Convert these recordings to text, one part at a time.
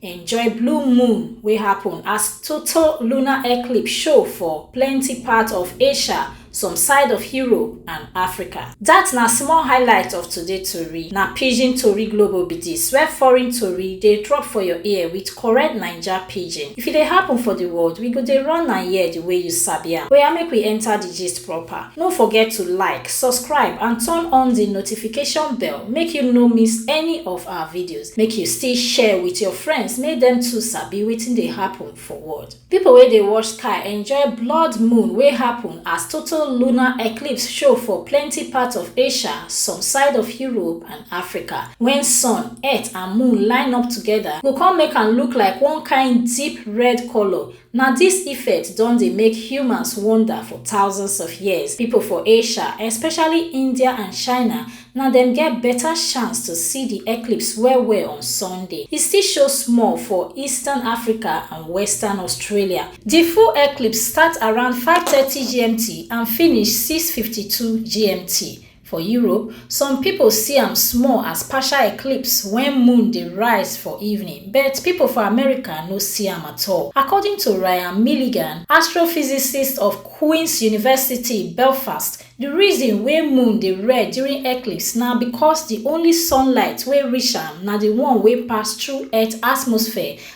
enjoy blue moon wey happun as total lunar eclipse show for plenti parts of asia some side of europe and africa. dat na small highlight of today tori na pidgin tori global be dis where foreign tori dey drop for your ear wit correct naija pidgin if e dey happun for di world we go dey run am here di way you sabi am oya make we enta di gist proper. No forget to like, subscribe and turn on the notification bell make you no miss any of our videos. Make you still share with your friends make them too sabi wetin dey happen for world. People wey dey watch sky enjoy blood moon wey happen as total lunar eclipse show for plenty parts of Asia, some side of Europe and Africa. When sun, earth and moon line up together, go come make am look like one kind deep red color Na dis effect don dey make humans wonder for thousands of years. Pipo for Asia, especially India and China, na dem get beta chance to see di eclipse well-well on Sunday. E still show small for eastern Africa and western Australia. Di full eclipse start around five thirty GMT and finish six fifty two GMT. For Europe, some pipo see am small as partial eclipse wen moon dey rise for evening, but pipo for America no see am at all. According to Ryan Milligan, astrophysicist of Queen's University, Belfast, di reason wey moon dey red during eclipse na becos di only sunlight wey reach am na di one wey pass through Earth atmosphere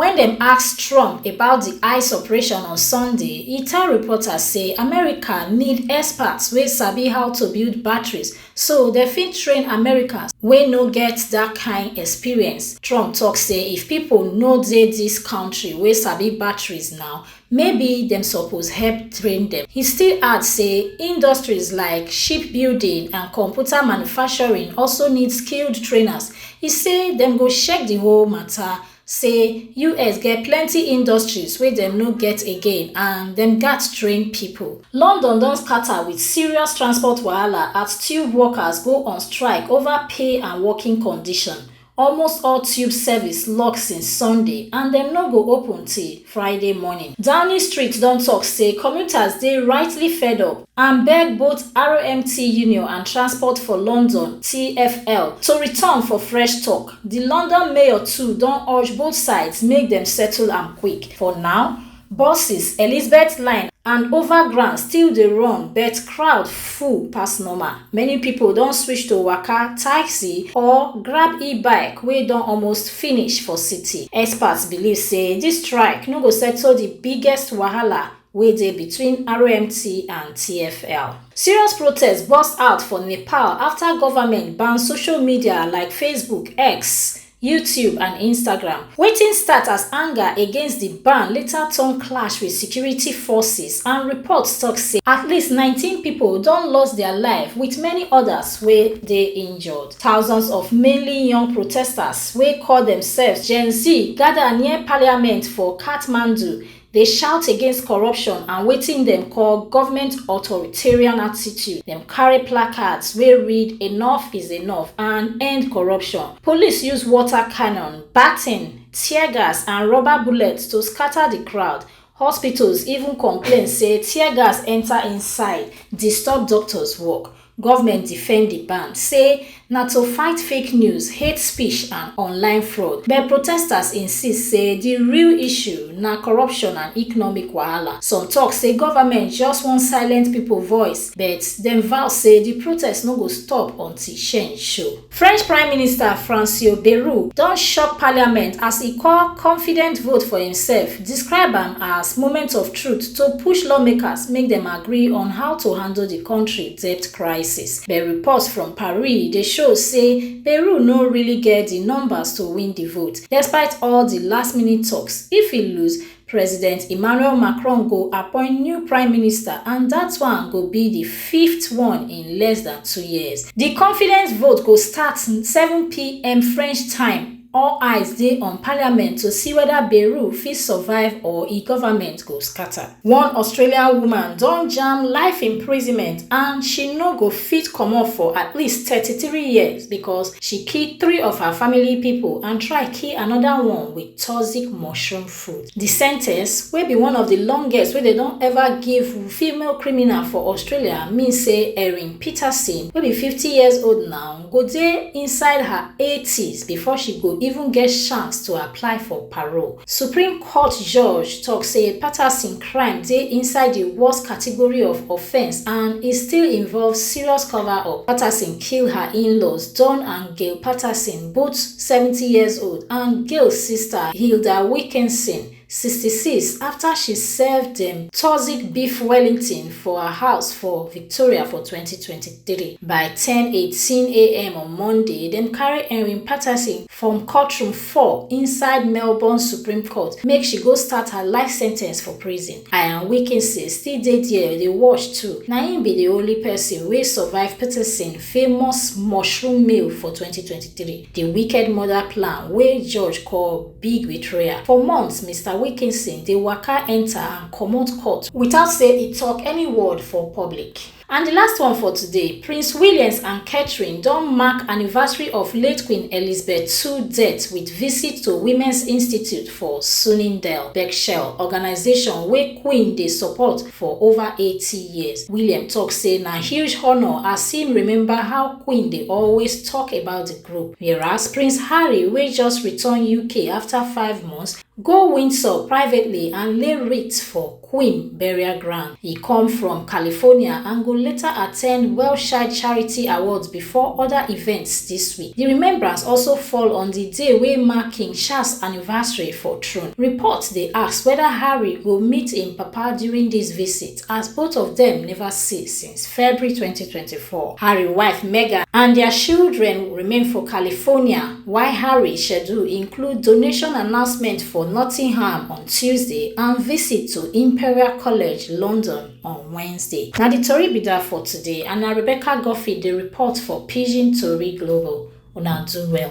Wen dem ask Trump about di ice operation on Sunday, e tell reporters say America need experts wey sabi how to build batteries so dem fit train Americans wey no get dat kain experience. Trump tok say if pipo no dey dis kontri wey sabi batteries now, maybe dem suppose help train dem. He still add say industries like shipbuilding and computer manufacturing also need skilled trainers. He say dem go shek di whole mata, say us get plenty industries wey dem no get again and dem gatz train pipo. London don scata wit serious transport wahala as tube workers go on strike ova pay and working condition. Almost all tube service lock since Sunday and dem no go open till Friday morning. Downing Street don tok say commuters dey rightly fed up and beg both RMT Union and Transport for London, TFL, to return for fresh tok. Di London mayor too don urge both sides make dem settle am quick. For now, Buses, Elizabeth Line and Overground still dey run but crowd full pass normal. Many pipo don switch to waka, taxi or grab e-bike wey don almost finish for city. Experts believe say dis strike no go settle di biggest wahala wey dey between RMT and TFL. Serious protests burst out for Nepal afta government ban social media like Facebook, X, YouTube and Instagram. Wetin start as anger against di ban later turn clash wit security forces and reports tok say at least 19 pipo don lost dia life wit many odas wey dey injured. Thousands of mainly young protesters wey call demsefs Gen Z gada near parliament for Kathmandu dey shout against corruption and wetin dem call government authoritarian attitude. Dem carry placards wey read Enough is enough and End corruption. Police use water cannon, baton, tear gas and rubber bullets to scatter di crowd. Hospitals even complain say tear gas enta inside, disturb doctors work. Government defend di ban, say na to fight fake news, hate speech and online fraud. But protesters insist say di real issue na corruption and economic wahala. Some tok say government just wan silent pipo voice, but dem vow say di protest no go stop until change show. French Prime Minister Francois Bayrou don shock parliament as e call confident vote for imsef, describe am as moment of truth to push lawmakers make dem agree on how to handle di kontri debt crisis. But reports from Paris dey show say Bayrou no really get di numbers to win di vote. Despite all di last-minute toks, if e lose, President Emmanuel Macron go appoint new prime minister and dat one go be di fifth one in less dan two years. Di confidence vote go start seven pm French time, all eyes dey on parliament to see weda Bayrou fit survive or e government go scata. One Australian woman don jam life imprisonment and she no go fit comot for at least thirty three years because she kill three of her family pipo and try kill anoda one wit. toxic mushroom fruit. Di sentence, wey be one of di longest wey dem don ever give female criminal for Australia, mean say Erin Peterson, wey be fifty years old now, go dey inside her eighties before she go even get chance to apply for parole. Supreme Court judge tok say Patterson crime dey inside di worst category of offence and e still involve serious cover-up. Patterson kill her in-laws, Don and Gail Patterson, Booth, seventy years old, and Gail sister, Hilda Wilkinson, sixty six, afta she serve dem toxic beef Wellington for her house for Victoria for twenty twenty three. By ten eighteen am on Monday, dem carry Erin Patterson from courtroom four inside Melbourne Supreme Court make she go start her life sentence for prison. Ian Wilkinson still dey there dey watch too. Na im be di only pesin wey survive Patterson famous mushroom meal for 2023, the wicked mother plan wey judge call big betrayal. For months, Mr Wilkinson dey waka enter and comot court without say e talk any word for public. And the last one for today, Prince Williams and Catherine don mark anniversary of late Queen Elizabeth ii death with visit to Women's Institute for Sunningdale, Berkshire, organisation wey Queen dey support for over eighty years. William tok say na huge honour as im remember how Queen dey always tok about di group, whereas Prince Harry wey just return UK afta five months, go Windsor privately and lay wreath for Queen burial ground. E come from California and go later attend Welshside Charity Awards before oda events dis week. Di remembrance also fall on di day wey mark King Charles anniversary for throne. Reports dey ask weda Harry go meet im papa during dis visit as both of dem neva see since February twenty twenty four. Harry wife Meghan and dia children remain for California while Harry schedule include donation announcement for Nottingham on Tuesday and visit to Imperial College, London. on wednesday na di tori be dat for today and na rebecca goffi dey report for pidgin tori global una do well